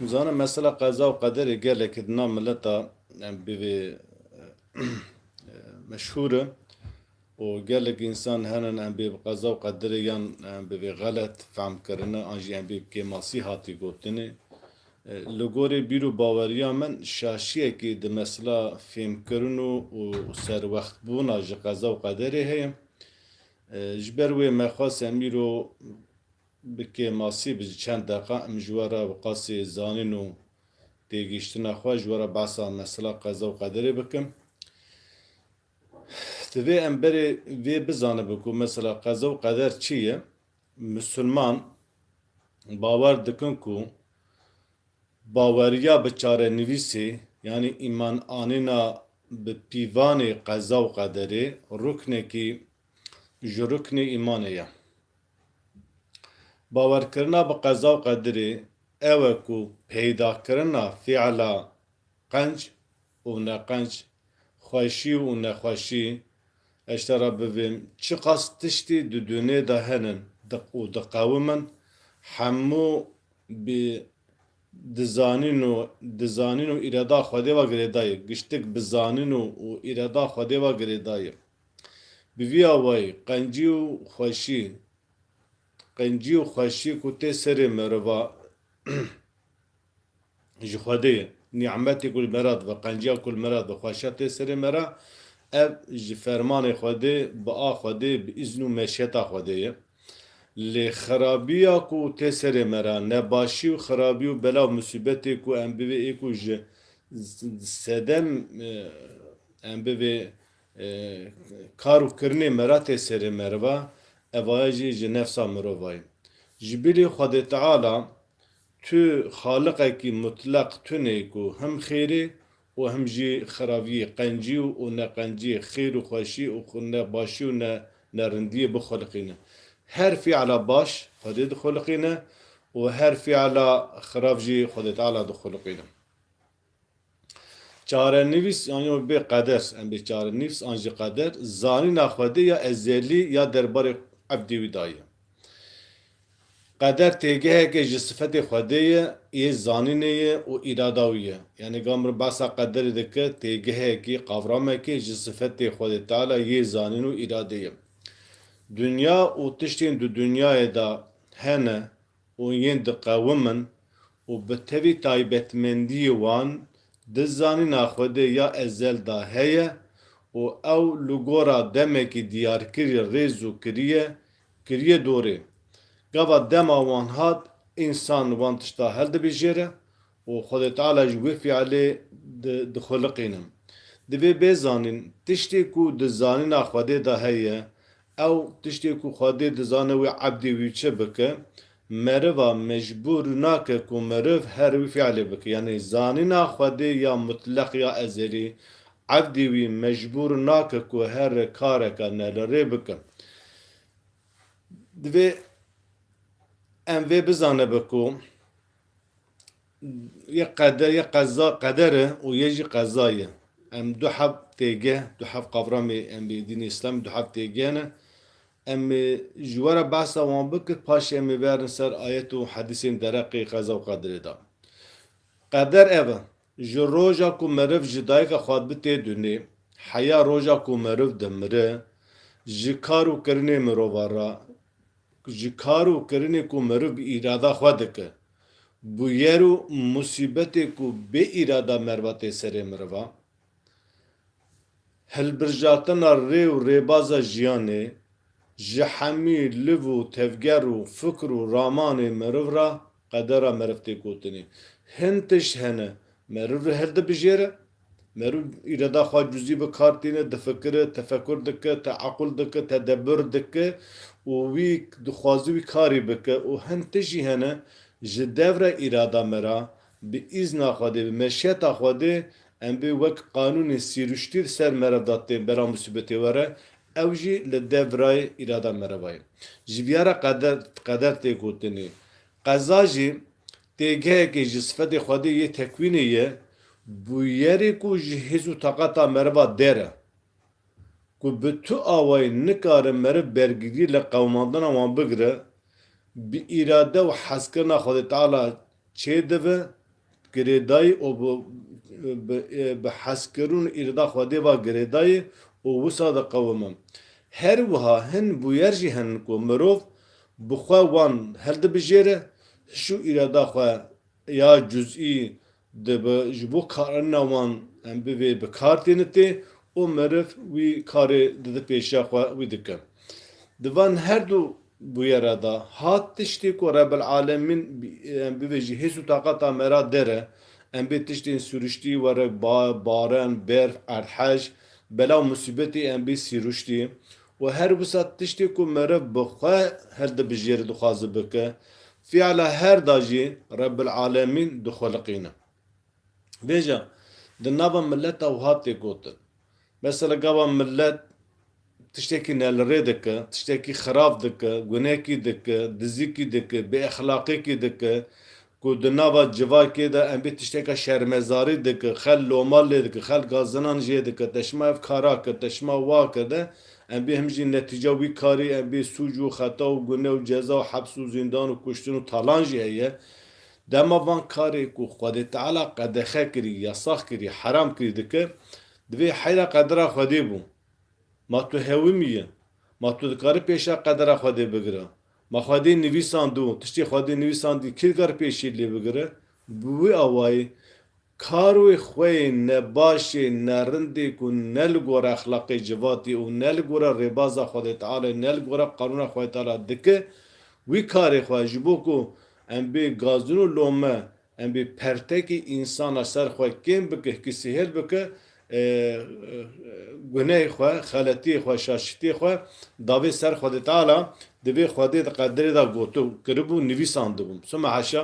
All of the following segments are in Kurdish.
Nizanim mesela qeza û qederê gelekî di nav mileta bivê meşhûr e û gelek însan hene em bê bi qeza û qederê yan bivê xelet fehm kirine an jî em bê bi kêmasî hatî gotinê. Li gorî bîr û baweriya min şaşiyekî di mesela fêhmkirin û serwextbûna ji qeza û qederê heye. Ji ber wê me xwest em îro Bike masî bi çend deqa em ji we re Wiqasê zanîn û têgihiştina xwe ji we re behsa mesela qeza û qederê bikim. Divê em berê vê bizanibin ku mesela qeza û qeder çi ye? Misilman bawer dikin ku baweriya bi çarenivîsê yanî îman anîna bi pîvanê qeza û qederê ruknekî ji ruknê îmanê ye. Bawerkirina bi qeza û qedirê, ew e ku peydakirina fiila qenc û neqenc, xweşî û nexweşî, eşta re bivêm çiqas tiştî di dunê de henin û diqewimin, hemû bi dizanîn û dizanîn û îrada Xwedê ve girêdayê, giştik bi zanîn û îrada Xwedê ve girêdayê. Bi vî awayî qencî û xweşî qencî û xweşî ku tê serê meriva ji Xwedê ye. Nî'metê ku li me re dibe, qenciya ku li me re dibe xweşa tê serê me re. Ev ji fermanê Xwedê, bi a Xwedê, bi îzn û meşiyeta Xwedê ye. Lê xerabîya ku tê serê me re, nebaşî û xerabî û bela û musîbetê ku em bivê ê ku ji sedem em bivê, Kar û kirinê me ra tê serê meriva, evaye jî ji nefsa mirova ye. Ji bîrî Xwedê Teala, tu Xaliqekî mutleq tune yî ku him xêrê û him jî xiraviyî, qencî û ne qencî, xêr û xweşî û ne başî û ne ne rindiyê bixuliqîne. Her fîala baş Xwedê dixuliqîne û her fîala xirav jî Xwedê Teala dixuliqîne. Çarenivîs yan yo bê qeder, em bê çarenivîs an jî qeder, zanîna Xwedê ya ezelî ya derbarê ebdî wî da ye. Qeder têgeheke ji sifetê Xwedê ye, yê zanînê ye û îrada wî ye. Yanî ka mirov behsa qederê dike, têgehekî, qavramekî ji sifetê Xwedê Teala yê zanîn û îradê ye. Dinya û tiştên di dinyayê de hene û yên diqewimin û bi tevî taybetmendiyê wan di zanîna Xwedê ya ezel de heye û ew li gora demekî diyarkirî rêz û kiriye kiriye dorê. Gava dema wan hat, însan wan tişta hildibijêre û Xwedê Teala ji wê fialê dixuliqînim. Divê bê zanîn, tiştê ku di zanîna Xwedê de heye, ew tiştê ku Xwedê dizane wê ebdê wî çi bike, meriva mecbûr nake ku meriv her wî fialê bike. Yanî zanîna Xwedê ya mutleq ya ezelî, ebdê wî mecbûr nake ku her kareke ne li rê bike. Divê em vê bizanibe ku Yê qeder yê qeza qeder e û yê jî qeza ye. Em du hev têgeh, du hev qavramê em ê dînê îslamê du hev têgeh ne. Em ê ji we re behsa wan bikin, paşê em ê verin ser ayet û hedîsên dereqê qeza û qederê de. Qeder ev e, Ji roja ku meriv ji dayika xwe bi tê dunê, heya roja ku meriv dimire, ji kar û kirinê mirovan re, ji kar û kirinê ku meriv bi îrada xwe dike, bûyer û musîbetê ku bê îrada meriva tê serê merivan, hilbirjatina rê û rêbaza jiyanê, ji hemî liv û tevger û fikr û ramanê meriv re Qedera meriv tê gotinê. Hin tişt hene, meriv li her dibijêre. Meriv îrada xwe cuzî bi kar tîne, difikire, tefekur dike, teequl dike, tedebur dike û wî dixwaze wî karî bike û hin tişt jî hene ji devre îrada me re, bi îzna Xwedê, bi meşiyeta Xwedê em bê wek qanûnê sîruştî li ser meriv de tên bera musîbetê were, Ew jî li devrayê îrada mereva ye. Ji biyara qeder tê gotinê. Qeza jî têgehekê ji sifetê xwedê yê tekwînê ye, bûyerê ku ji hêz û taqeta merva der e. Ku bi tu awayî nikare meriv bergirî li qewimandina wan bigire, bi îrade û hezkirina Xwedê Teala çêdive Girêdayî û bi hezkirûn îrada Xwedê va girêdayî û wisa diqewim im. Her wiha hin bûyer jî henin ku mirov bi xwe wan hildibijêre, hişû îrada xwe ya cuzî dibe ji bo karina wan em bivê bi kar têne tê û meriv wî karê dide pêşiya xwe wî dike. Di van her du Bûyera da hat tiştê ku Rebil Alemîn em bibe jî hês û taqeta me ra dere, em bê tiştên sûriştî were bar, baren, berf, erdhej, bela û musîbetê em bê sîruştî û her wisa tiştê ku meriv bi xwe hildibijêre dixwaze bike, fîala her da jî Rebil Alemîn dixwiliqîne. Bêje, di nava mileta wiha tê gotin, Mesela gava milet tiştekî nelirê dike, tiştekî xirab dike, gunekî dike, dizikî dike, bêexlaqîkî dike ku di nava civakê de em bê tişteka şermezarî dike, xel loma lê dike, xel gazinan jê dike, te şima ev kara kir, te şima wa kir de em bê him jî netîca wî karî em bê sûc û xeta û gune û ceza û heps û zîndan û kuştin û talan jî heye Dema van karê ku Xwedê Teala qedexe kirî, yasax kirî, heram kirî dikir, divê heyra qedera Xwedê bû. Ma tu hewimî yî? Ma tu dikarî pêşa qedera Xwedê bigirî? Ma Xwedê nivîsand û tiştê Xwedê nivîsandî kî dikar pêşî lê bigire? Bi wî awayî Karê xwe yê ne baş ê, ne rind ê ku ne li gora exlaqê civatê û ne li gora rêbaza Xwedê Tealê, ne li gora qanûna Xwedê Teala dike, wî karê xwe ji bo ku em bê gazûn û lome, em bê pertekî însan a ser xwe kêm bike, hikî sihêl bike, gunehê xwe, xeletiyê xwe, şaşîtiyê xwe dabê ser Xwedê Teala, dibê Xwedê di qedirê de gotibû, kiribû, nivîsandibûm. Soma haşa,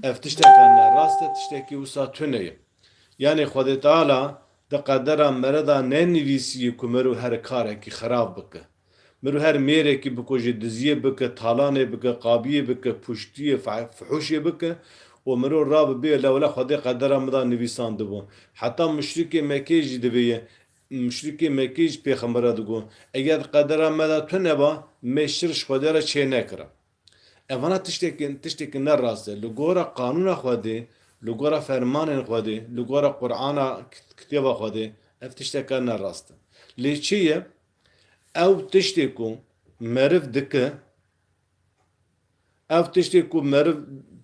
ev tişteke ne rast e, tiştekî wisa tune ye. Yanê Xwedê Teala di qedera mere de nenivîsîyî ku mero her karekî xerab bike. Min ru her mêrekî biko jî diziyê bike, talanê bike, qabiyê bike, puştiyê, fihuşê bike û min ru rabibêye lewla Xwedê qedera min de nivîsandibû. Heta muşrikê Mekeyê jî divêye. Muşrikê Mekeyê jî pêxember re digot, Eger di qedera me de tu neba, me şir ji Xwedê re çênekira. Evana tiştekî tiştekî ne rast e. Li gora qanûna Xwedê, li gora fermanên Xwedê, li gora Qur'ana, kitêba Xwedê ev tişteke ne rast e. Lê çi ye? Ew tiştê ku meriv dike, ev tiştê ku meriv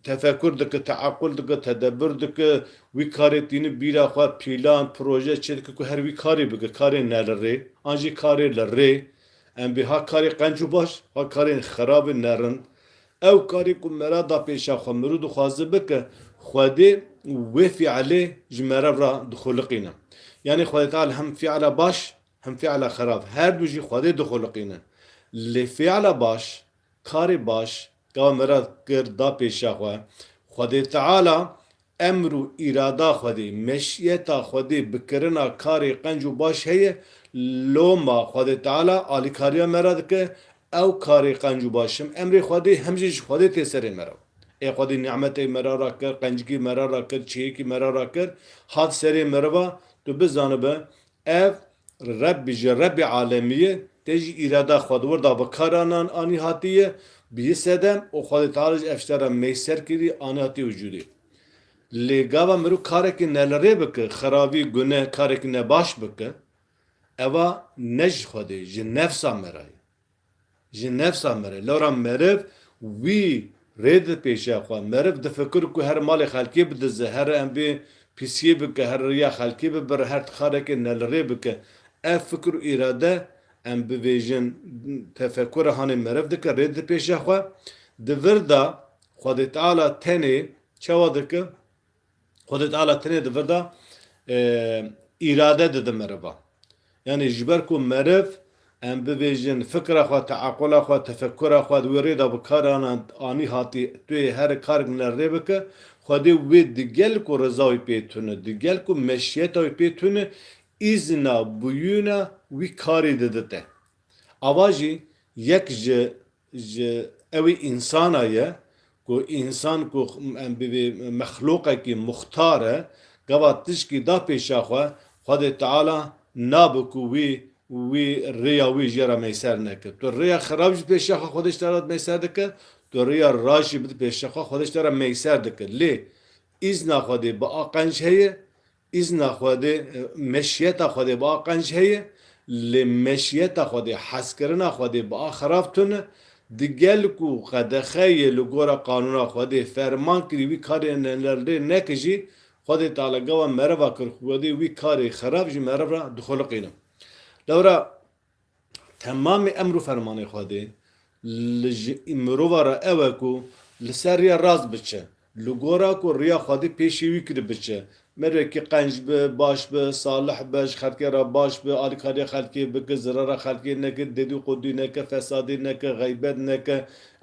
tefekur dike, teequl dike, tedebur dike, wî karê tîni bîra xwe, pîlan, proje çê dike ku her wî karê bike, karê ne li rê an jî karê li rê. Em bê ha karê qenc û baş, ha karê xerab ê nerind. Ew karê ku meriv da pêşa xwe, meriv dixwaze bike, Xwedê wê fîelê ji meriv re dixuliqîne. Yanî Xwedê Teal hem fîela baş Him fiala xerab, her du jî Xwedê dixoliqînin. Lê fiala baş, karê baş, ka mirad kir da pêşiya xwe, Xwedê Teala, emr û îrada Xwedê, meşiyeta Xwedê bi kirina karê qenc û baş heye, loma Xwedê Teala alîkariya me re dike, ew karê qenc û baş him emrê Xwedê him jî ji Xwedê tê serê me re. Ê Xwedê nimetê me re ra kir, qencikî me re ra kir, çêyekî me re ra kir, hat serê meriva, tu bizanibe Ev Rebbî ji Rebbê alemî ye, tê jî îrada xwe di wir de bi kar anan anî hatiye, bi yê sedem û Xwedê Teala ji ev şte re mey ser kirî anî hatiye wicûdê. Lê gava mirov karekî ne li rê bike, xerabî, guneh, karekî ne baş bike, eva ne ji Xwedê, ji nefsa me re ye. Ji nefsa mere. Lewra meriv wî rê dipêşe xwe. Meriv difikir ku her malê xelkê bidize, her em bê pîsiyê bike, her riya xelkê bibire, her tixarekê nelirê bike. Ev fikir û îrade, em bivêjin tefekura hanê meriv dike, rê dipêşe xwe. Di vir de Xwedê Teala tenê çawa dike? Xwedê Teala tenê di vir de îrade dide meriva. Yanî ji ber ku meriv em bibêjin fikra xwe, teequla xwe, tefekkura xwe di wê rê de bikarane anî hatî tu yê here karek li rê bike, Xwedê wê di gel ku riza wî pê tune, di gel ku meşiyeta wî pê tune îzna bûyûna wî karî didite. Ava jî yek ji Ji ewî însana ye ku însan ku em bibê mexlûqekî muxtar e, gava tişkî da pêşa xwe, Xwedê Teala nabe ku wî wî rêya wî jê re meyser neke. Tu rêya xerab jî pêşa xwe Xwedê ji te re meyser dike, tu rêya rast jî bide pêşa xwe Xwedê ji te re meyser dike. Lê îzna Xwedê bi aqenc heye Îzna Xwedê, meşiyeta Xwedê bi a qenc heye, lê meşiyeta Xwedê, hezkirina Xwedê bi a xerab tune. Di gel ku qedexe yê li gora qanûna Xwedê ferman kirî wî karê nelrê neke jî, Xwedê Teala gewa mereva kir, Xwedê wî karê xerab ji meriv re dixuliqîne. Lewra. Temamê emr û fermanê Xwedê li ji mirova re ew e ku li ser riya rast biçe, li gora ku riya Xwedê pêşî wî kir biçe, mirekî qenc be, baş be, salih be, ji xelkê re baş be, alîkariya xelkê bike, zirara xelkê neke, dedû qudû neke, fesadî neke, xeybet neke,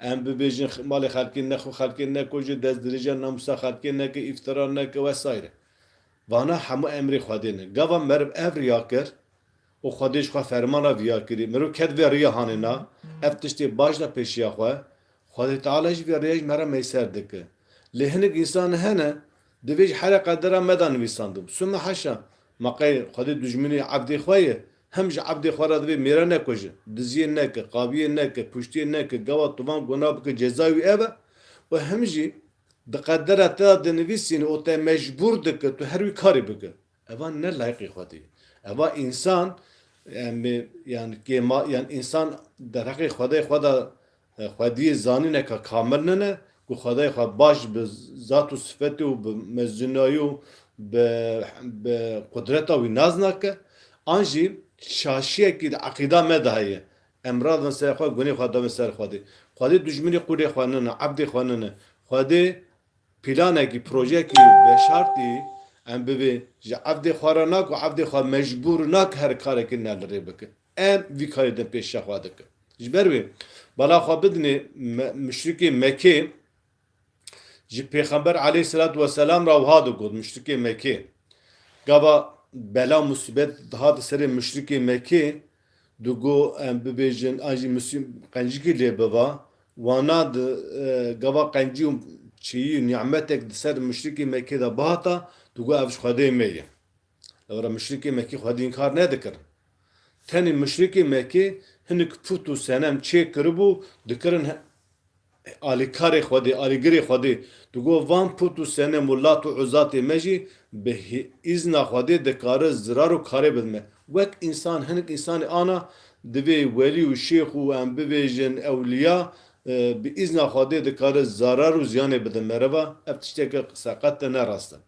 em bibêjin malê xelkê nexwe, xelkê nekoje, destdirêjiya namûsa xelkê neke, îftira neke wesayîre. Vana hemû emrê Xwedê ne. Gava meriv ev riya kir, û xwedê ji xwe ferman re diyar kirî. Mirov ket vê rêya hanê na, ev tiştê baş da pêşiya xwe, Xwedê Teala jî vê rêya ji me re meyser dike. Lê hinek însan hene, divê ji herê qedera me da nivîsandibû. Sûme haşa! Ma qey Xwedê dujminê ebdê xwe ye? Hem ji ebdê xwe re divê mêra nekuje, diziyê neke, qaviyê neke, kuştiyê neke, gewa tuvan guna bike cezay wî ev e û hem jî di qedera te da dinivîsîne û te mecbûr dike tu her wî karî bike. Eva ne layiqî Xwedî. Eva însan em ê yan kêma yan însan derheqê Xwedê xwe de Xwediyê zanîne ka kamil nine ku Xwedê xwe baş bi zat û sifetê û bi mezinayî û bi bi qudreta wî nas nake. An jî şaşiyekî di eqîda me de heye. Em radin serê xwe gunê xwe dabin ser Xwedê. Xwedê dijminê qûlê xwe nine, ebdê xwe nine. Xwedê Planekî, projeyekî veşartî em bibê ji evdê xwe re nake û evdê xwe mecbûr nake her karekî ne li rê bike. Em vî karê din pêşiya xwe dikin. Ji ber wê bala xwe bidinê muşrikê Mekê ji Pêxember aleyhîsselatu weselam re wiha digot, muşrikê Mekê gava bela musîbet dihate serê muşrikê Mekê, Du go em bibêjin an jî misî qencikî lê biva. Wana di gava qencî û çiyî û nimetek di ser mişrikê Mekê de bihata, du go ev ji Xwedê me ye. Lewra mişrikê Mekê Xwedî înkar nedikirin. Tenê mişrikê Mekê hinik put û senem çêkiribû dikirin. Alîkarê Xwedê, Alîgirê Xwedê, digot, Van put û senem û lat û uzatê me jî bi îzna Xwedê dikare zirar û karê bin me. Wek însan, hinek însanê ana, divê welî û şêx û em bibêjin ewliya, bi îzna Xwedê dikare zarar û ziyanê bidin mereva. Ev tişteke qise qet ne rast e.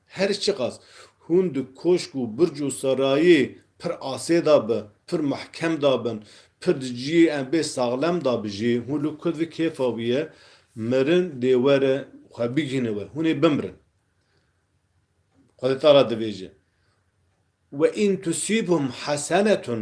Her çiqas hûn di koşk û birc û sarayê pir asê de bi, pir mehkem de bin, pir di ciyê embê saxlem de bi jî, hûn li ku di kêfa wî ye, mirin dê were xwe bigihîne we, hûn ê bimirin. Xwedî te re dibêje. We'in tusîbhum hesenetun.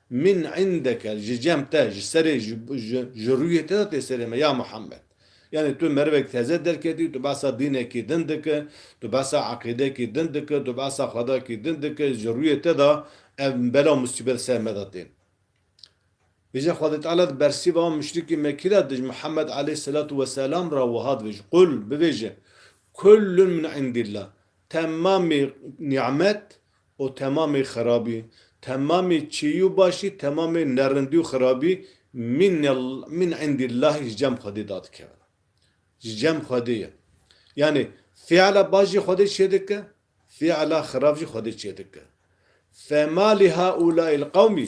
Min îndeke li ji cem te, ji serê, ji rûyê te de tê serê me, ya Muhammed. Yanî tu merivek teze derketî, tu behsa dînekî din dike, tu behsa eqîdekî din dike, tu behsa xwedakî din dike, ji rûyê te de ev bela û musîbet li ser me de tên. Bêje Xwedê Teala di bersîva wan muşrikî Mekî re dij Muhammed aleyhîsselatu weselam re wiha dibêje, Qul, bibêje, Kullun min îndîllah, temamî nîmet O temamê xerabî, temamê çîyî û başî, temamê nerindî û xerabî min min indî Llahî ji cem Xwedê da dikevin. Ji cem Xwedê ye. Yanî fiala baş jî Xwedê çêdike, fiala xerab jî Xwedê çêdike. Fema li haulâ'il qewmî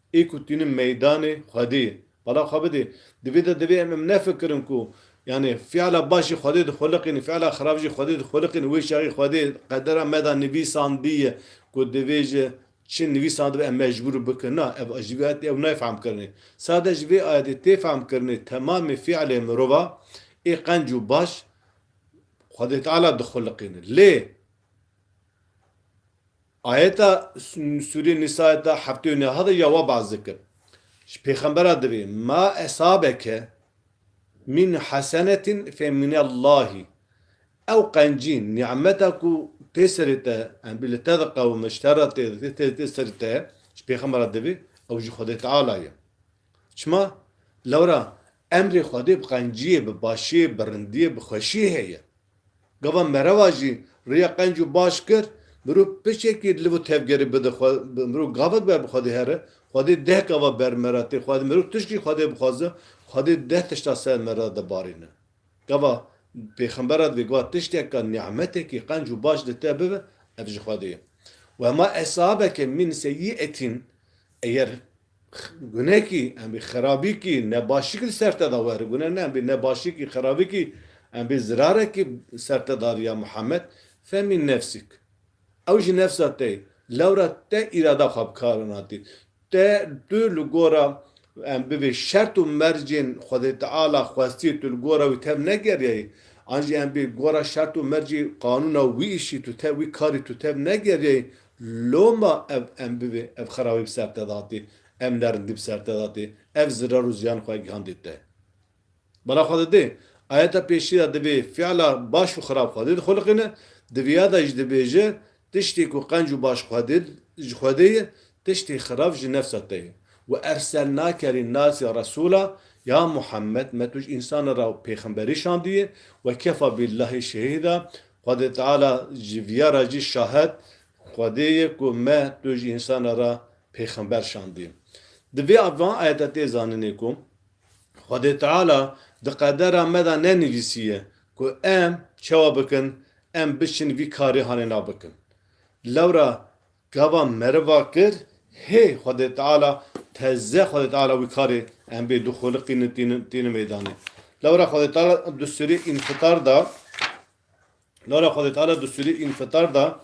Ê ku tînin meydanê Xwedê bala xwe bidê. Di vê de divê em em nefikirin ku yanê fiala baş jî Xwedê dixweliqînî, fiala xerab jî Xwedê dixweliqînî. Wê çaxî Xwedê qedera me da nivîsandiye ku divê ji çi nivîsandibe em mecbûr bikin. Na, ev ji vê ayetê ew nayê fehmkirinê. Sade ji vê ayetê tê fehmkirinê temamê fialê mirova ê qenc û baş Xwedê Teala dixweliqînî. Lê. Ayeta Sûrê Nîsa ayeta heftê û neh de ya wa behs dikir. Ji pêxembera divê ma eshabeke mîn hesenetîn fê mînellahî. Ew qencî, nî'meta ku tê serê te, embî li te diqewime, ji te re tê serê te, ji pêxembera divê ew ji Xwedê Teala ye. Çima? Lewra emrê Xwedê bi qenciyê, bi başiyê, bi rindiyê, bi xweşiyê heye. Gava mereva jî rêya qenc û baş kir, mirov piçekî liv û tevgerê bide xwe, mirov gavek ber bi Xwedê here, Xwedê deh gava ber me re tê xwedin, mirov tişkî Xwedê bixwaze, Xwedê deh tişta ser me re dibarîne. Gava pêxembera divê gava tişteke, nî'metekî qenc û baş li te bibe, ev ji Xwedê ye. Wema esabeke mîn se yî etîn, eger Gunekî, em bê xerabîkî, nebaşîkî li ser te de were. Gune ne, em bê nebaşîkî, xerabîkî, em bê zirarekî li ser te de riya Muhammed, femîn nefsîk. Ew jî nefsa te ye. Lewra te îrada xwe bi kar in hatî. Te, tu li gora em bi vê şert û mercên Xwedê Teala xwestiyê tu li gora wî tev negeriyayî. An jî em bê gora şert û mercê qanûna wî îşî tu tev, wî karî tu tev negeriyayî. Loma ev em bibê, ev xerawî bi ser te datê, ev nerindî bi ser te datê, ev zirar û ziyan xwe gihandê te. Bala xwe didê. Ayeta pêşî de divê fiila baş û xerab Xwedê dixuliqîne, di vî ya de jî dibêje, Tiştê ku qenc û baş Xwedê ji Xwedê ye, tiştê xerab ji nefsa te ye. We erselnake rî nasî Resûla, ya Muhammed, me tu ji însanan re pêxemberî şandiye, we kefa bîllahî şehîda, Xwedê Teala ji viya re jî şahed, Xwedê ye ku me tu ji însanan re pêxember şandî. Di vê van ayet de tê zaninê ku Xwedê Teala di qedera me de nenivîsiye ku em çawa bikin, em biçin vî karê hanê nav bikin. Lewra Gava meriva kir hê Xwedê Teala teze Xwedê Teala wî karê em bê du xoliqînin tînin meydanê. Lewra Xwedê Teala du surî înfitar da Lewra Xwedê Teala du surî înfitar da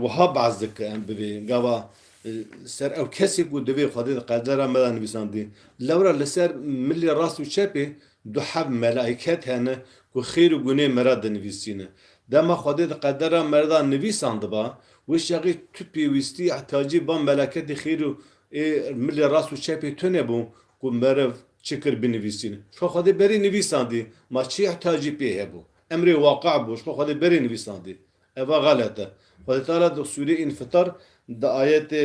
wiha behs dike em bi vê gava ser ew kesê ku divê Xwedê di qerdera me de nivîsandî. Lewra li ser milê rast û çepê Du heb melayket hene ku xêr û gunê me re dinivîsîne. Dema Xwedê di qedera me re de nivîsan diba, wê şexî tu pêwîstî ihtiyacî van melaketê xêr û ê milê rast û çepê tune bû ku meriv çi kir binivîsîne. Ji xwe Xwedê berî nivîsandî, ma çi ihtiyacî pê hebû? Emrê waqe bû, ji xwe Xwedê berî nivîsandî. Eva xelet e. Xwedî Teala di sûreyê Înfitar di ayetê.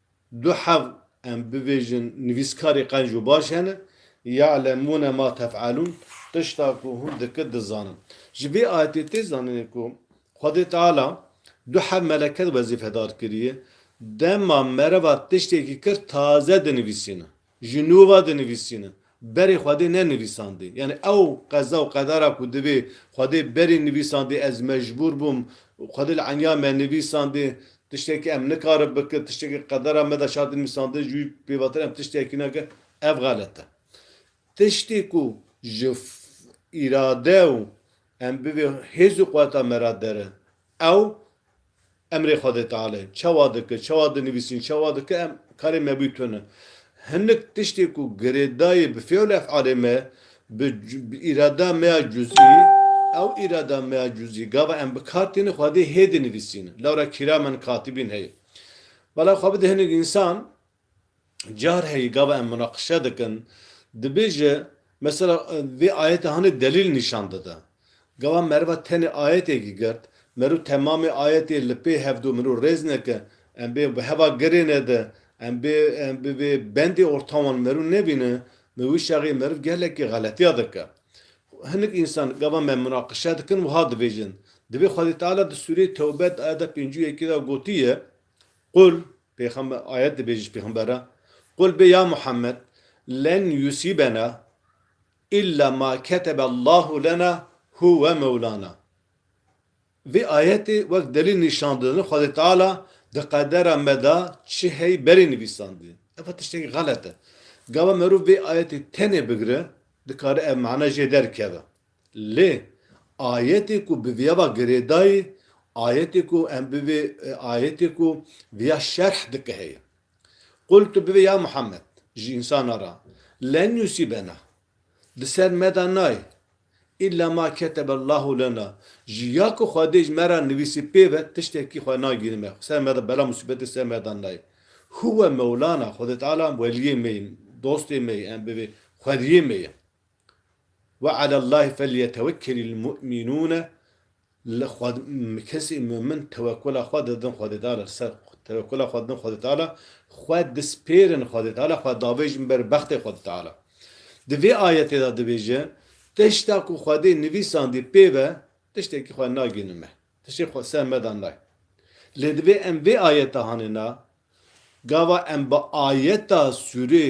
Du hev em bibêjin nivîskarê qenc û baş hene, Ya'lemûne ma tef'elûn, tişta ku hûn dikin dizanin. Ji vê ayetê tê zanînê ku Xwedê Teala du hev meleke wezîfedar kiriye, dema mereva tiştekî kir taze dinivîsînin. Ji nû ve dinivîsîne. Berê Xwedê ne nivîsandî. Yanî ew qeza û qedara ku divê Xwedê berî nivîsandî ez mecbûr bûm, Xwedê li enya me nivîsandî, tiştekî em nikarin bikin, tiştekî qedara me de şart nivîsandin ji wî pêvatir em tiştekî nekin, ev xelet e. Tiştê ku ji îrade û em bivê hêz û quweta me re der e, Ew emrê Xwedê Tealê çawa dike, çawa dinivîsîn, çawa dike em karê me bû tune. Hinek tiştê ku girêdayê bi fêl efalê me, bi îrada me ya cuzî, ew îrada me ya cuzî gava em bi kar tîne Xwedê hê dinivîsîne. Lewra kiramen katibîn heye. Bala xwe bide hinek însan Carheyî gava em munaqişe dikin, dibêje mesela vê ayetê hanê delîl nîşan dide. Gava meriva tenê ayetêkî girt, meriv temamê ayetê li pê hevdu meriv rêz neke, em bê bi heva girêne de, em bê bi vê bendê orta wan meriv nebîne, bi wî şexî meriv gelekî xeletiya dike. Hinek însan gava me munaqişe dikin wiha dibêjin, Divê Xwedê Teala di sûreyê Tewbe di ayeta pêncû yekê de gotiye, Qul Pêxember ayet dibêje ji pêxember re, Qul bê ya Muhammed, Len yusîbena îlla ma ketebe Allahu lena huwe mewlana. Vê ayetê wek delîl nîşan didin Xwedê Teala di qedera me de çi hey berê nivîsandiye. Ev tiştekî xelet e. Gava merov vê ayetê tenê bigire dikare ev mana jê derkeve. Lê ayetê ku bi viyava girêdayî ayetê ku em bivê ayetê ku viya şerh dike heye. Qul tu bivê ya Muhammed ji însanan re, Len yusîbena, di ser me de nayê, îlla ma ketebellahu lena, ji ya ku Xwedê ji me re nivîsî pêve tiştekî xwe nagîrî me ser me de bela musîbetê ser me de nayê. Huwe mewlana, Xwedê Teala weliyê me ye, dostê me ye, em bivê xwediyê me ye. Ve ala Llahî felyetewekkelîl mu'mînûne Li xwe kesên mu'min tewekkula xwe didin Xwedê Teala li ser tewekkula xwe didin Xwedê Teala xwe dispêrin Xwedê Teala xwe dabêjin ber bextê Xwedê Teala Di vê ayetê de dibêje Tişta ku Xwedê nivîsandî pê ve tiştekî xwe nagihînin me tiştê xwe ser me de nayê Lê divê em vê ayete hanê na gava em bi ayeta sûrê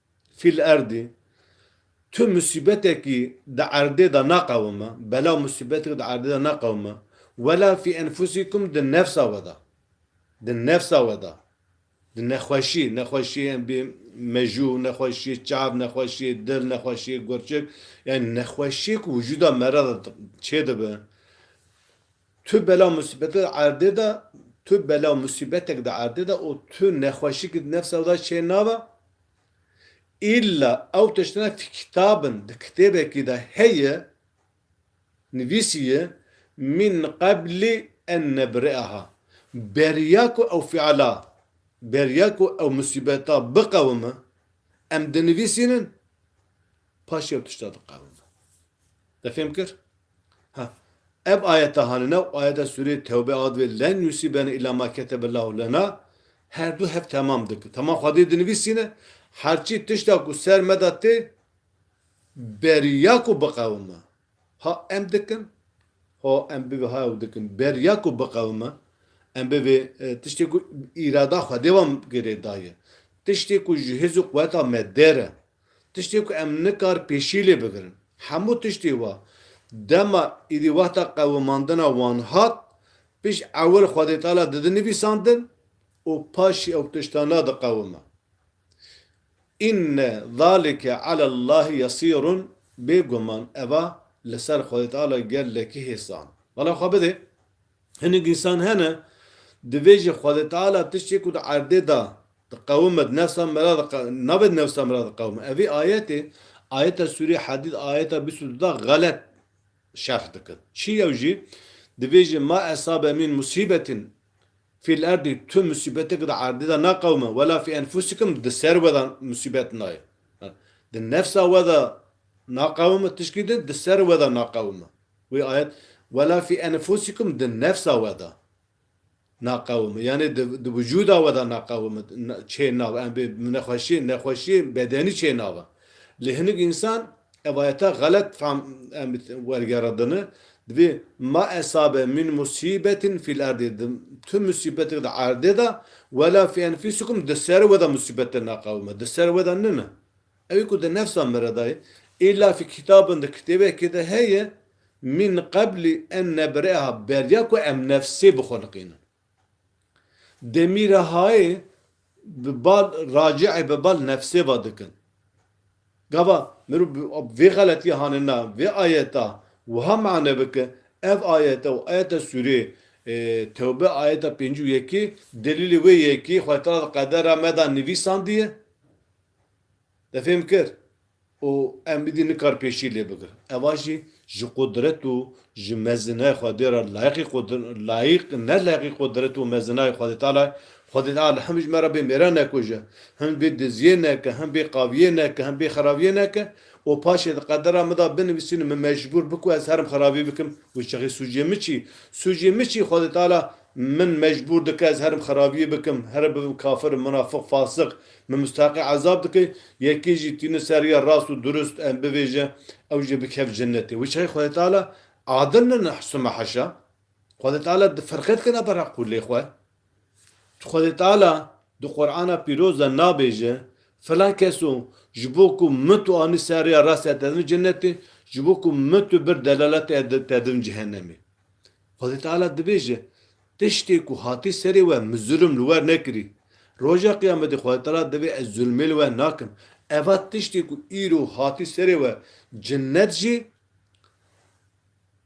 Fîl erdî, tu musîbetekî di erdê de naqewime, belaw musîbetekî di erdê de naqewime, wela fî enfusikum di nefsa we de, di nefsa we de, di nexweşî, nexweşiyê embî mejû, nexweşiyê çav, nexweşiyê dil, nexweşiyê gurçik, yanî nexweşiyê ku wijûda me re de çêdibe, Tu bela musîbete di erdê de, tu bela musîbetek di erdê de û tu nexweşikî di nefsa wî de çê nabe, îlla ew tiştine fî kitabin, di kitêbekî de heye, nivîsî ye, min qeblî en nebri'aha, beriya ku ew fi'la, beriya ku ew musîbeta biqewime, em dinivîsînin, paşê ew tişta diqewime. Te fêm kir? Ha, ev ayete hanine û ayete sûreyê Tewbe a divê len yusîbena îllâ mâ ketebellâhu lenâ her du hev temam dikin. Temam xwediyê dinivîsîne, her çî tişta ku ser me de tê beriya ku biqewime. Ha em dikin? Ha em bivê ha ew dikin. Beriya ku biqewime, em bivê tiştê ku îrada xwedê wan girê daye. Tiştê ku ji hêz û quweta me dêr e. Tiştê ku em nikar pêşî lê bigirin. Hemû tiştê wa dema êdî wexta qewimandina wan hat, pişt ewil xwedêtala didin nivîsandin û paşî ew tiştana diqewime. Înne zalike alellâhi yesîrun Bêguman eva li ser xwedêtala gelekî hêsan. Bala xwe bidê. Hinek însan hene divê ji Xwedê Teala tiştê ku di erdê de diqewime di nefsa me re nabe di nefsa me re diqewime. Evî ayetê, ayeta sûrê Hedîd ayeta bîst û du de xelet şerh dikin. Çi yew jî divê ji ma esabe min musîbetin fîl erdî tu musîbeteke di erdê de naqewime wela fî enfusikum di ser we de musîbet nayê. Di nefsa we de naqewime tişkî di di ser we de naqewime. Wê ayet, Wela fî enfusikum di nefsa we de naqewim, yanê di wicûda we de naqewim çê nav em bê nexweşiyên nexweşiyên bedenî çê nav in. Lê hinik însan ev ayeta xelet fehm em wergerindine, dibê ma esabe min musîbetin fîl erdî di tu musîbetik di erdê de wela fî enfusikum di ser we de musîbet te naqewime di ser we de nine Ew ku di nefsa me re de ye, îlafî kitabin di kitêbekê de heye, Min qeblî en nebireha beriya ku em nefsê bixwelikînin. Demîrehayê bi bal racî'ê bi bal nefsê ve dikin. Gava mirov bi vê xeletiyê hane na vê ayeta wiha mane bike, ev ayete û ayeta sûrê Tewbe ayeta pêncî û yekê delîlê wê yekê Xwetala di qedera me de nivîsandiye. Defêm kir û em îdî nikar pêşî lê bigirin. Eva jî ji qudret û ji mezina Xwedê re layiqî layiq ne layiqî qudret û mezinayê Xwedê Teala ye. Xwedê Teala him ji me re bê mêra nekuje, him bê diziyê neke, him bê qaviyê neke, him bê xerabiyê neke û paşê di qedera min de binivîsîn min mecbûr bi ku ez herim xerabî bikim û çixî sûcê min çi? Sûcê min çi Xwedê Teala Min mecbûr dike ez herim xerabiyê bikim, here bibim kafir, munafiq, fasik, min musteheqê ezab dike, yekê jî tîne ser rêya rast û durust, em bivêje, ew jî bikeve cenetê. Wê çayê Xwedê Teala adil ne nehsûme heşa. Xwedê Teala di firqet kena ber heq û lê xwe. Tu Xwedê Teala di Qur'ana pîroz de nabêje, filan keso ji bo ku min tu anî ser rêya rastê te dibim cenetê, ji bo ku min tu bir delaletê te dibim cehenemê. Xwedê Teala dibêje, Tiştê ku hatî serê we min zulm li wer nekirî. Roja Qiyametê Xwedê Teala divê ez zulmê li we nakim. Eva tiştê ku îro hatî serê we cinnet jî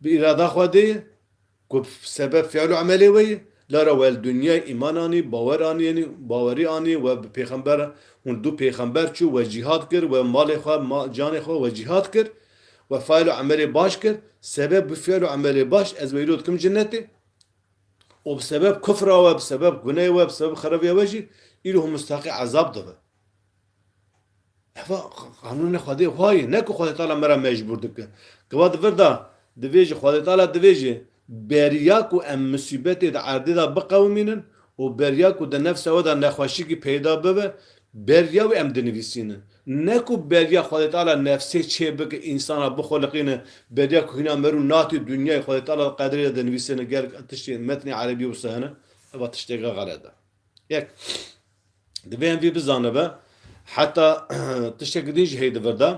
bi îrada Xwedê ye ku bi sebeb fiil û emelê we ye. Lara we li dinyayê îman anî, bawer anî, bawerî anî, we bi pêxember hûn du pêxember çû, we cîhad kir, we malê xwe, canê xwe we cîhad kir. We faîl û emelê baş kir, sebeb bi fiil û emelê baş ez weylo dikim cinetê û bi sebeb kufra we, bi sebeb guneyê we, bi sebeb xereviya we jî îro hûn mistahaqê ezab dibe. Eva qanûnê Xwedê xwe ye, ne ku Xwedê Teala me re mecbûr dike. Gava di vir de divê jî Xwedê Teala divê jî Beriya ku em musîbetê di erdê de biqewimînin û beriya ku di nefsa we de nexweşikî peyda bibe, beriya wî em dinivîsînin. Ne ku beriya Xwedê Teala nefsê çê bike însanan bixuliqîne, beriya ku hîna merû natê dinyayê Xwedê Teala di qederê de dinivîsîne gelek tiştê metnê erebî wisa hene, eva tişteke xelet e. Yek, divê em vî bizanibe, heta tiştekî din jî hey di vir de,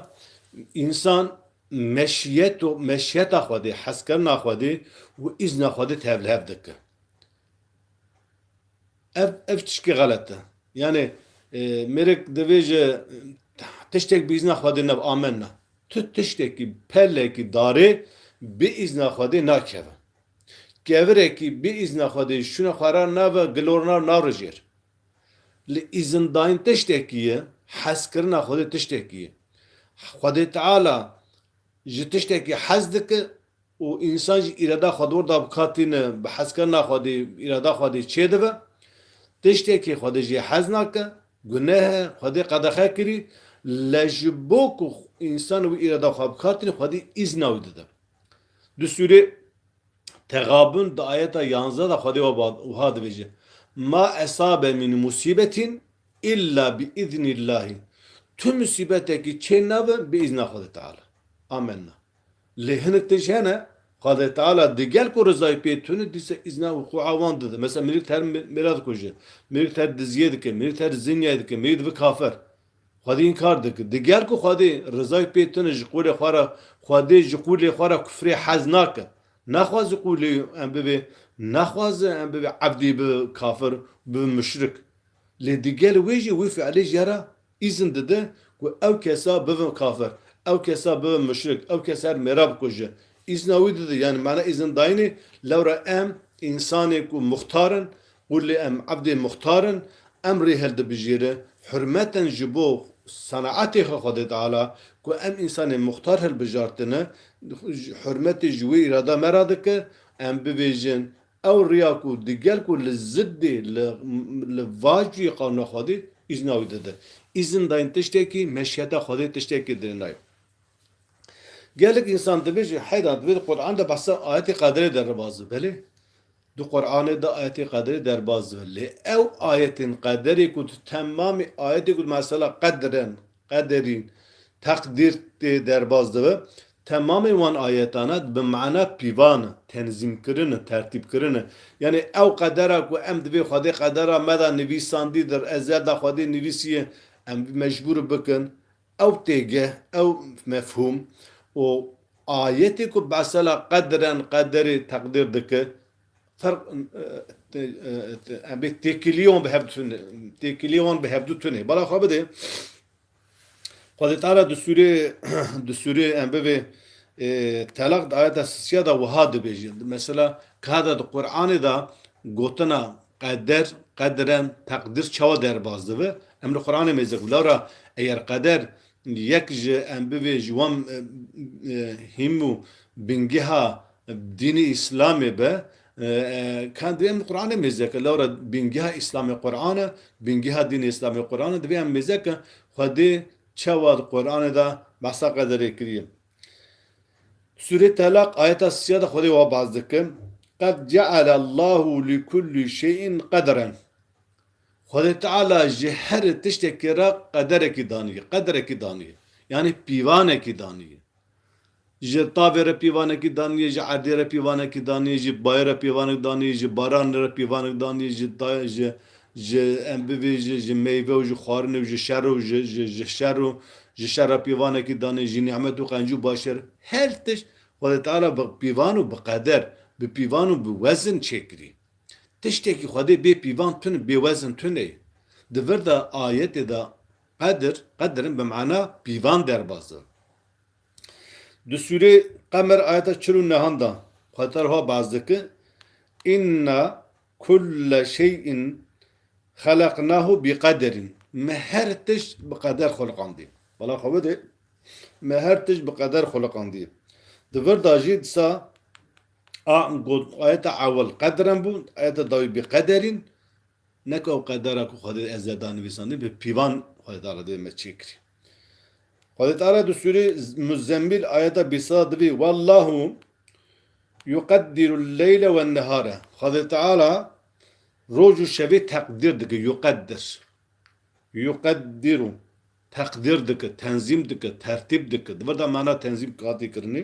însan meşiyet û meşiyeta Xwedê, hezkirina Xwedê û îzna Xwedê tevlihev dike. Ev ev tişkî xelet e. Yanê e, mêrek divê ji tiştek bi îzna Xwedê neb amenna. Tu tiştekî pelekî darê bi îzna Xwedê nakeve. Kevirekî bê îzna xwe dê şûna xwe ra nave gilorna naro jêr. Li îzindayîn tiştekî ye, hezkirina Xwedê tiştekî ye. Xwedê Teala ji tiştekî hez dike û însan jî îrada xwe di wir de bika tîne, bi hezkirina Xwedê îrada xwe dê çêdibe. Tiştekî Xwedê jê hez nake, guneh e, Xwedê qedexe kirî, lê ji bo ku însan wî îrada xwe bika tîne, Xwedî îzna wî dide. Di sûrê Tegabun di ayeta yanze de Xwedê wiha dibêje, Ma esabe min musîbetîn îlla bi îznîllahî. Tu musîbetekî çê nabe bi îzna Xwedê Teala. Amenna. Lê hinek tişt hene Xwedê Teala di gel ku rizayê pê tune dîsa îzna wuqûa wan dide. Mesela mirî di her mêra dikuje, mirî di her diziyê dike, mirî di her zinyayê dike, mirî dibe kafir. Xwedê înkar dike. Di ger ku Xwedê rizayê pê tune ji qûlê xwe re, Xwedê ji qûlê xwe re kufrê hez nake. Naxwaze qûlê em bibe, naxwaze em bibe ebdê bibe kafir û bibe muşrik. Lê digel wê jî wê fiilê jî re îzin dide ku ew kesa bibe kafir, ew kesa bibe muşrik, ew kes her mêra bikuje. Îzna wî dide, yanî mana îzindayînê, lewra em însanê ku muxtar in, Qûlê em evdê muxtar in, em rê hildibijêri, hurmeten ji bo senatê xwe Xwedê Teala ku em însanê muxtar hilbijartine, hurmetê ji wê îrada me re dike, em bibêjin ew riya ku di gel ku li ziddê li va cuyê qanûna Xwedê îzna wî dide. Îzin dayîn tiştekî, meşiyeta Xwedê tiştekî dê nayê. Gelek însan dibêje, heyda divê di Qur'an de behsa ayetê qederê de re baze. Belê. Di Quranê du ayetên qederê derbas dibin. Lê ew ayetên qederê ku di temamê ayetên ku di mesela qedren, qederîn, teqdîr tê derbas dibin, temamên wan ayetane bi mana pîvan in, tenzîmkirin in, tertîbkirin in. Yanî ew qedera ku em divê Xwedê qedera me de nivîsandidir, ezel de Xwedê nivîsiye, em mecbûr bikin, Ew têgeh, ew mefhûm û ayetê ku mesela qedren, qederê teqdîr dike, ferq em bê têkiliyê wan bi hev tune, têkiliyê wan bi hevdu tune. Bala xwe bide, Xwedê teala di sûrê di sûrê em bivê Telaq di ayeta sisiya de wiha dibêje. Mesela ka de di Quranê de gotina Qeder, qedren, teqdir çawa derbas dibe? Em li Quranê mêzik bila re eger qeder yek ji em bivê ji wan hîm û bîngeha dînê Îslamê be, ka divê em li Quranê mêzik e. Lewre bîngeha Îslamê Quran e, bîngeha dînê Îslamê Quran e. Divê em mêzik e Xwedê çawa di Quranê de behsa qederê kiriye? Sûrê Telaq ayeta sîya de Xwedê wa baz dike, Qed ceale Allahu li kullî şey'in qederen. Xwedê Teala ji her tiştekê re qederekî daniye, qederekî daniye. Yanî pîvanekî daniye. Ji tavê re pîvanekî daniye, ji erdê re pîvanekî daniye, ji bayê re pîvanek daniye, ji baranê re pîvanek daniye, ji ji Ji em bibî ji ji meyve û ji xwarin û ji şer û ji ji ji şer û ji şer re pîvanekî danê jî nîmet û qencî û başer her tişt Xwedê Teala bi pîvan û bi qeder, bi pîvan û bi wezin çêkirî. Tiştekî Xwedê bê pîvan tune, bê wezin tune ye. Di vir de ayetê de qedir, qedrin bi mana pîvan derbas e. Di sûrê Qemer ayeta çil û nehan de Xwedê Teala wiha behs dike, Inna Kull şey'in xelaqnahu bi qeder'in Me her tişt bi qeder xulqandiye. Bala xwe bide, Me her tişt bi qeder xulqandiye. Di vir de jî disa a got ayeta ewil qeder'en bû, ayeta dawî bi qeder'in Neke ew qedera ku Xwedê ez ê da nivîsandin bi pîvan Xwedê da re divê me çêkirî. Xwedîtara di sûrê Muzzemmîl ayeta bîst da divî Wallahu yuqeddirul leyle wen nehare. Xwedê Teala roj û şevê teqdîr dike, yuqeddir. Yuqeddiru teqdîr dike, tenzîm dike, tertîb dike. Di vir de mana tenzîm hatî kirinê.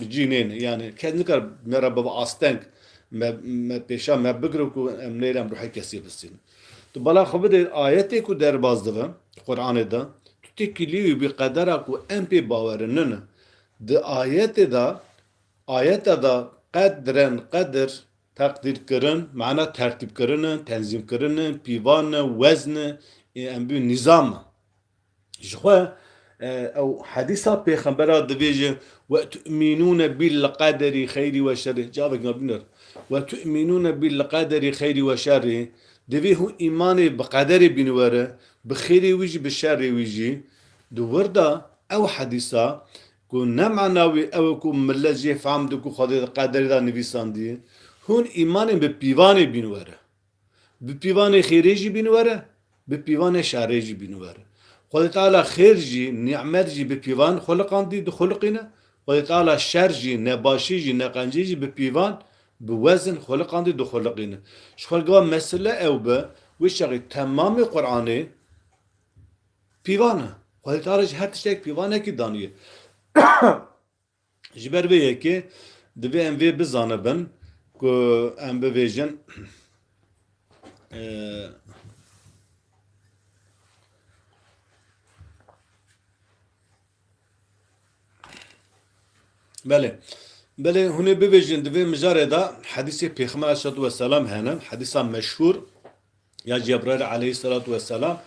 Bi cî nêne yanî kes nikare me re bibe asteng, me me pêşan me bigire ku em nêrî em ruhê kesî bisînin. Tu bala xwe bidê ayetê ku derbas dibe di Quranê de, tu tê kilî wî bî qedera ku em pê bawer in nina. Di ayetê de ayeta de qedren, qedir, teqdîrkirin, mana tertîbkirin e, tenzîmkirin e, pîvan e, wezn e, ê em bî nîzam e. Jixwe ew hedîsa pêxembera dibêje, Wetu'mînûne bil-qederî xeyrî we şerrî, cavek na bîner, Wetu'mînûne bil-qederî xeyrî we şerrî, divê hûn îmanê bi qederê bîn were, bi xêrê wî jî bi şerrê wî jî. Di wirda ew hedîsa ku ne mana wî ew e ku milet jê fehm dike ku Xwedê di qederê de nivîsandiye, hûn îmanê bi pîvanê bîn were. Bi pîvanê xêrê jî bîn were, bi pîvanê şerê jî bîn were. Xwedê Teala xêr jî, nîmet jî bi pîvan xwiliqandî, dixwiliqîne. Xwedê Teala şer jî, nebaşî jî, neqencî jî bi pîvan, bi wezin xwiliqandî, dixwiliqîne. Ji xwe li gava mesele ew be, wê çaxê temamê Quranê pîvan e. Xwedê Teala ji her tiştek pîvanekî daniye. Ji ber vê yekê divê em vê bizanibin ku em bibêjin Belê. Belê hûn ê bibêjin di vê mijarê de hedîsê Pêxember aleyhissalatu vesselam hene, hedîsa meşhûr Ya Cebraîl aleyhîsselatu wesselam,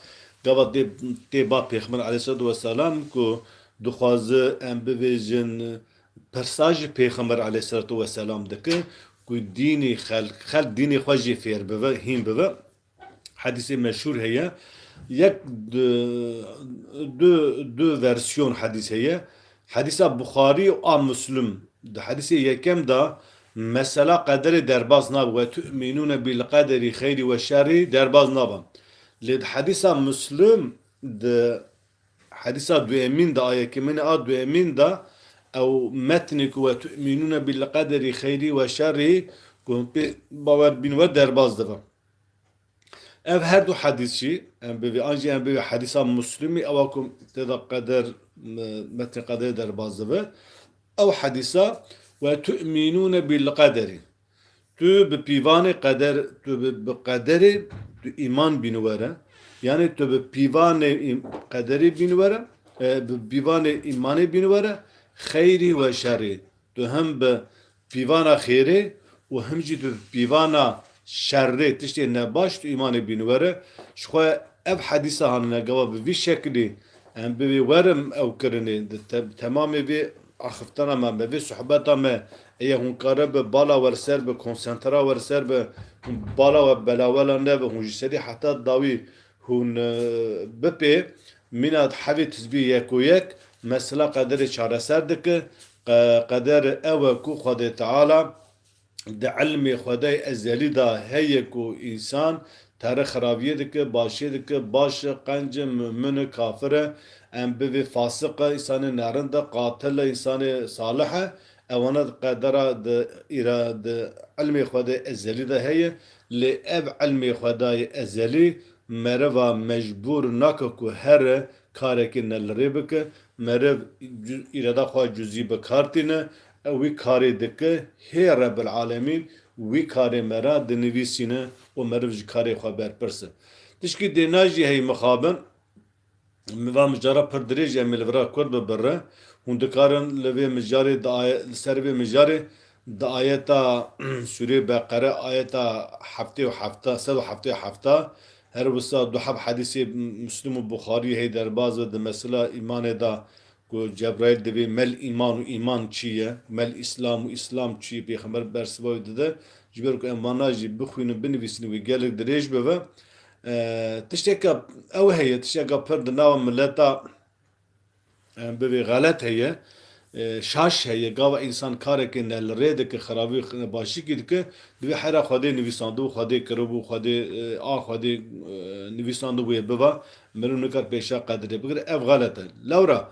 gava tê tê ba Pêxember aleyhîsselatu wesselam ku dixwaze em bibêjin pirsa ji Pêxember aleyhîsselatu wesselam dikin ku dînê xelk xelk dînê xwe jê fêr bibe, hîn bibe. Hedîsê meşhûr heye. Yek du du du versîyon hedîs heye. Hedîsa Buxarî a Muslim, di hedîsê yekem de mesela qederê derbas nabe, Ve tu'mînûne bil qederî xeyrî we şerrî derbas nabe. Lê di hedîsa Muslim di hedîsa duyemîn de a yekeminê a duyemîn de ew metnê ku Ve tu'mînûne bil qederî xeyrî we şerrî ku hûn pê bawer bîn we derbas dibe. Ev her du hedîs jî em bivê an jî em bivê hedîsa Muslimî ewa ku tê de qeder metnê qederê derbas dibe. Ew hedîsa we tu'mînûne bil qederî tu bi pîvanê qeder tu bi qederê tu îman bîn were yanî tu bi pîvanê qederê bîn were bi pîvanê îmanê bîn were xeyrî we şerî tu him bi pîvana xêrê û him jî bi pîvana şerrê tiştê ne baş tu îmanê bîn were. Ji xwe ev hedîsa hanine gava bi vî şekilî em bi vê were ew kirinê. Di temamê vê axivtana me me vê suhbeta me eye hûn kare bi bala wer ser bi, konsentra wer ser bi, hûn bala we belawela nebe, hûn ji serî heta dawî Hûn bipê mîna di hevê tizbî yekoyek mesela qederê çareser dike. Qeder ew e ku Xwedê Teala di îlmê Xwedayê ezelî de heye ku însan terix xiraviyê dike, başiyê dike, baş e, qenc e, mumin e, kafir e, em bivê fasiq e, însanê nerind e, qatil e, însanê salih e. Ewana di qedera di îra di îlmê Xwedayê ezelî de heye. Lê ev ilmê Xwedayê ezelî meriva mecbûr nake ku here karekî ne li rê bike. Meriv îrada xwe cuzî bi kar tîne. Ew wî karê dike, hê Rebil'alemîn wî karê me re dinivîsîne û meriv ji karê xwe berpirse. Tişkî dê ne jî hey mixabin. Min va mijara pir dirêj em ê li vir a Kurd bibirrin. Hûn dikarin li vê mijarê di li ser vê mijarê di ayeta sûrê Beqere ayeta heftê û hefta sed û heftê û hefta her wisa du heb hedîsê Muslim û Buxarî hey derbaz be di mesela îmanê da ku Cebraîl divê mel îman û îman çi ye mel îslam û îslam çi ye pêxember bersiva wî dide ji ber ku em vana jî bixwînin binivîsin wî gelek dirêj bibe Tişteke ew heye, tişteke pir di nava mileta bivê xelet heye, şaş heye, gava însan karekê ne li rê dike, xerabî û başikî dike, divê hera Xwedê nivîsandibû, Xwedê kiribû, Xwedê a Xwedê nivîsandibûye biba, meriv nikar pêşa qedirê bigire, ev xelet e. Lewra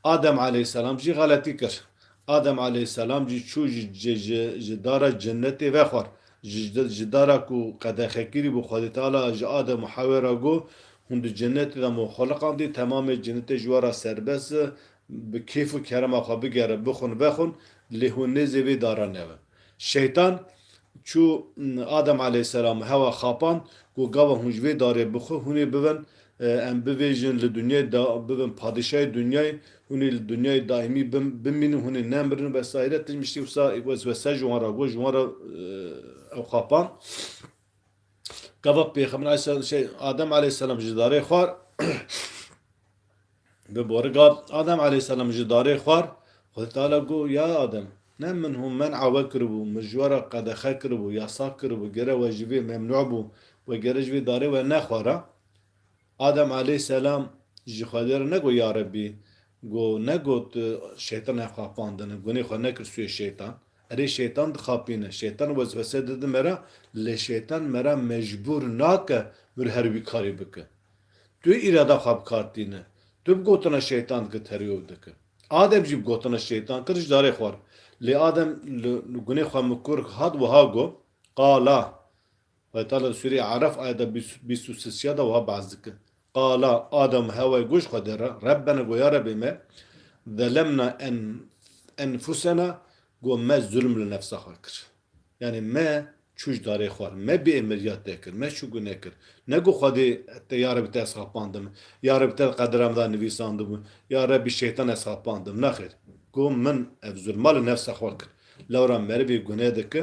Adem aleyhîsselam jî xeletî kir. Adem aleyhisselam jî çû ji ji dara cenetê ve xwar. Ji ji dara ku qedexe kirî bû Xwedê Teala ji Adem û Hewê re got, Hûn di cenetê de me xweliqandî, temamê cenetê ji we re serbest e, bi kêf û kerema xwe bigere, bixwin vexwin, lê hûn nêzê vê dara newin. Şeytan çû Adem aleyhisselamê hewa xapan, got, Gava hûn ji vê darê bixwe, hûnê bibin, em bivêjin li dinyayê de bibin padîşayê dinyayê, hûnê li dinyayê daîmî bimînin, hûnê nemirin wesayîre. Tişt min tiştî wisa weswese ji wan re got, ji wan re ew xapan. Gava Pêxember Aleyhisselam şey Adem Aleyhisselam ji darê xwar bi boriga Adem Aleyhisselam ji darê xwar Xwedê Teala got ya Adem ne min hûn men awe kiribû min ji we re qedexe kiribû yasak kiribû gere we ji vê memnû bû we gere ji vê darê we nexwara Adem aleyh selam ji Xwedê re negot ya Rebbî, go negot şeytan ev xapandine, gunê xwe nekir sûyê şeytan. Erê şeytan dixapîne, şeytan weswese dide me re, lê şeytan me re mecbûr nake mir her wî karî bike. Tu yê îrada xwe bi kar tîne. Tu bi gotina şeytan dikir terî û dikir. Adem jî bi gotina şeytan kir ji darê xwe re. Lê Adem li gunê xwe mikur hat wiha got, Qala, Xwetala Sûrî Araf ayeta bîst û sisiya de wiha behs dike, Qala Adam Hewayê goş Xwedê re, Rebbena go ya Rebê me, zelemna enfusena go me zulm li nefsa xwe kir. Yanî me çû ji darê xwe, me bê êmiriya te kir, me çû guneh kir. Ne go Xwedê te ya Rebî te ez xapandim, ya Rebî te di qedera min de nivîsandibû, ya Rebî şeytan ez xapandim. Nexêr, go min ev zulma li nefsa xwe kir. Lewra merivê guneh dike,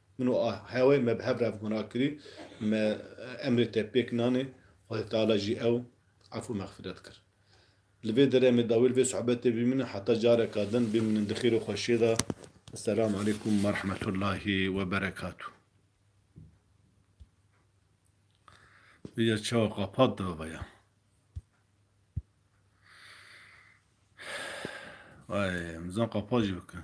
Min û a hewê me bi hev re guna kirî, me emrê te pêk nanê, Xwedê Teala jî ew ef û mexfiret kir. Li vê deremê de wê li vê sohbetê bimînin heta careka din bimînin di xêr û xweşiyê de. Esselamu Aleykum Werehmetullahî Weberekatû. Vêya çawa qapat da vaya. Ay, mizan qapat jî bikin.